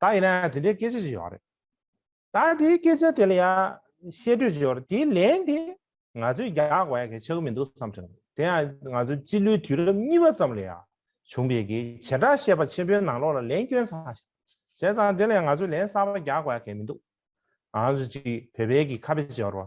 ད་ཡིན་ན་དེ་འདྲའི་སྐད་ཆ་ཞིག་ཡོང་རེད། ད་དེའི་སྐད་ཆ་དེ་ལ་ཡང་བཤད་སྤྲོས་བྱས་པར་དེའི་ལན་དེ་ང་ཚོས་རྒྱག་པ་ཡང་གལ་ཆེ་གི་མི་འདུག་བསམ་དྲན་འདུག་དེ་ཡང་ང་ཚོའི་སྤྱི་ལོའི་དུས་རབས་གཉིས་པ་ཙམ་ལ་ཡང་བྱུང་བའི་གི་བྱེ་བྲག་བཤད་པ་ཆེན་པོའི་ནང་ལོགས་ལ་ལན་སྐྱོན་ཚང་ཞིག་བྱས་ཙང་དེ་ལ་ཡང་ང་ཚོས་ལན་གསར་པ་རྒྱག་པ་ཡང་གལ་མི་འདུག་ང་ཚོ་གཅིག་བོད་པའི་གི་ཁ་དཔེ་བྱས་པར།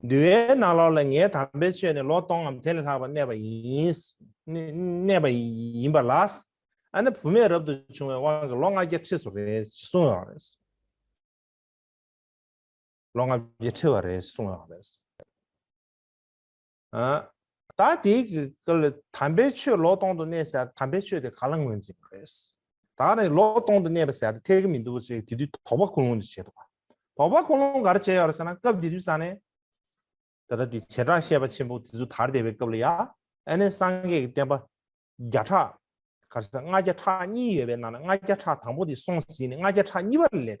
འདུལ་བའི་ནང་ལོགས་ལ་ངའི་དམ་པའི་ཆོས་ནི་ལོ་སྟོང་ངམ་དེ་ལས་ལྷག་པར་གནས་པ་གནས་པ་ཡིན་པ་ལ། ཨ་ནེ་བུ་མེད་རབ་ཏུ་བྱུང་བའི་དབང་གིས་ལོ་ལྔ་བརྒྱ་ཁྲི་སོ་རེ་སོང་ཡོད་པ་རེད། ལོ་ལྔ་བརྒྱ་ཁྲི་བ་རེ་སོང་ཡོད་པ་རེད། ད་དེའི་སྐབས་དམ་པའི་ཆོས་ལོག་སྟོང་དུ་གནས་ཟེར་དམ་པའི་ཆོས་དེ་ག་ལ་ངོས་འཛིན་པ་རེད། ད་རེ་ལོག་སྟོང་དུ་གནས་པ་ཟེར་ཏེ་ཐལ་གྱི་མི་འདུག་ཅེས་དེ་དུས་དོགས་པ་ཀུན་སློང་དུ་བྱེད་དོ། དོགས་པ་ཀུན་སློང་ག་རེ་བྱས་ཡོད་རེད་ཟེར་ན་སྐབས་དེ་དུས་ས་ནས། ད་ལྟ་དེ་བྱེ་བྲག་བཤད་པ་ཆེན་པོ་དེ་ཚོ་དར་བསྡད་པའི་སྐབས་ལ་ཡང་ཨ་ནེ་སངས་རྒྱས་ཀྱི་བསྟན་པ། བརྒྱ་ཕྲག། ག་རེ་ཟེར་ལྔ་བརྒྱ་ཕྲག་གཉིས་ཡོད་པའི་ནང་ན་ལྔ་བརྒྱ་ཕྲག་དང་པོ་དེ་སོང་ཟིན་ནས་ལྔ་བརྒྱ་ཕྲག་གཉིས་པ་ལས།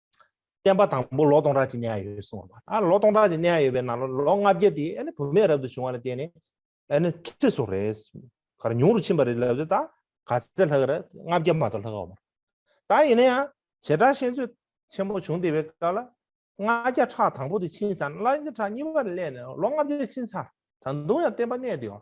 བསྟན་པ་དང་པོ་ལོ་སྟོང་ཕྲག་གཅིག་གནས་ཡ་ཡོད་གསུངས་བ་ཨ་ལོ་སྟོང་ཕྲག་གཅིག་གནས་ཡ་ཡོད་པའི་ནང་ལོ་ལོ་ལྔ་བརྒྱ་དེ་ཨ་ནི་བུད་མེད་རབ་ཏུ་བྱུང་བ་ལ་བརྟེན་ནས་ཨ་ནི་ཁྲི་སོགས་རེད་གར་ཉུང་རུ་ཕྱིན་པ་རེད་ལབ་ཏེ་ད་ག་ཚད་ལྷག་རེད་ལྔ་བརྒྱ་མ་གཏོགས་ལྷག་ཨོ་མ་རེད་ད་ཡིན་ན་ཡང་བྱེ་བྲག་ཤེས་ཚོད་ཆེན་པོ་བྱུང་བསྡད་པའི་སྐབས་ལ་ལྔ་བརྒྱ་ཕྲག་དང་པོ་དེ་ཕྱིན་ས་ན་ལྔ་བརྒྱ་ཕྲག་གཉིས་པ་ལས་ནས་ལོ་ལྔ་བརྒྱ་ཕྱིན་ས་ད་དུང་ཡང་བསྟན་པ་གནས་བསྡད་ཡོང་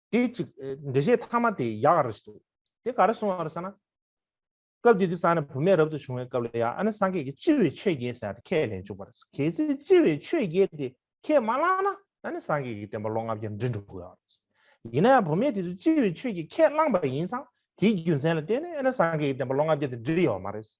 དེ་ཅིག་འདི་བཞེས་ཐ་མ་དེ་ཡག་རེད་འདུག་དེ་ག་རེ་གསུང་བ་རེད་ཟེར་ན། སྐབས་དེ་དུས་ས་ནས་བུད་མེད་རབ་ཏུ་བྱུང་བའི་སྐབས་ལ་ཡང་ཨ་ནི་སངས་རྒྱས་ཀྱི་ལྕི་བའི་ཆོས་རྒྱལ་ཟེར་ཡག་དེ་ཁས་ལེན་བཅུག་པ་རེད་ཟེར་གལ་སྲིད་ལྕི་བའི་ཆོས་རྒྱལ་དེ་ཁས་མ་བླངས་ན་ཨ་ནི་སངས་རྒྱས་ཀྱི་བསྟན་པ་ལོ་ལྔ་བརྒྱར་འགྲིལ་འགྲོ་དགོས་ཡག་རེད་ཟེར་ཡིན་ན་ཡང་བུད་མེད་དེ་ཚོས་ལྕི་བའི་ཆོས་རྒྱལ་ཁས་བླངས་པ་ཡིན་ཙང་དེའི་རྒྱུ་མཚན་ལ་བརྟེན་ནས་ཨ་ནི་སངས་རྒྱས་ཀྱི་བསྟན་པ་ལོ་ལྔ་བརྒྱ་དེ་འགྲིལ་ཡོད་མ་རེད་ཟེར།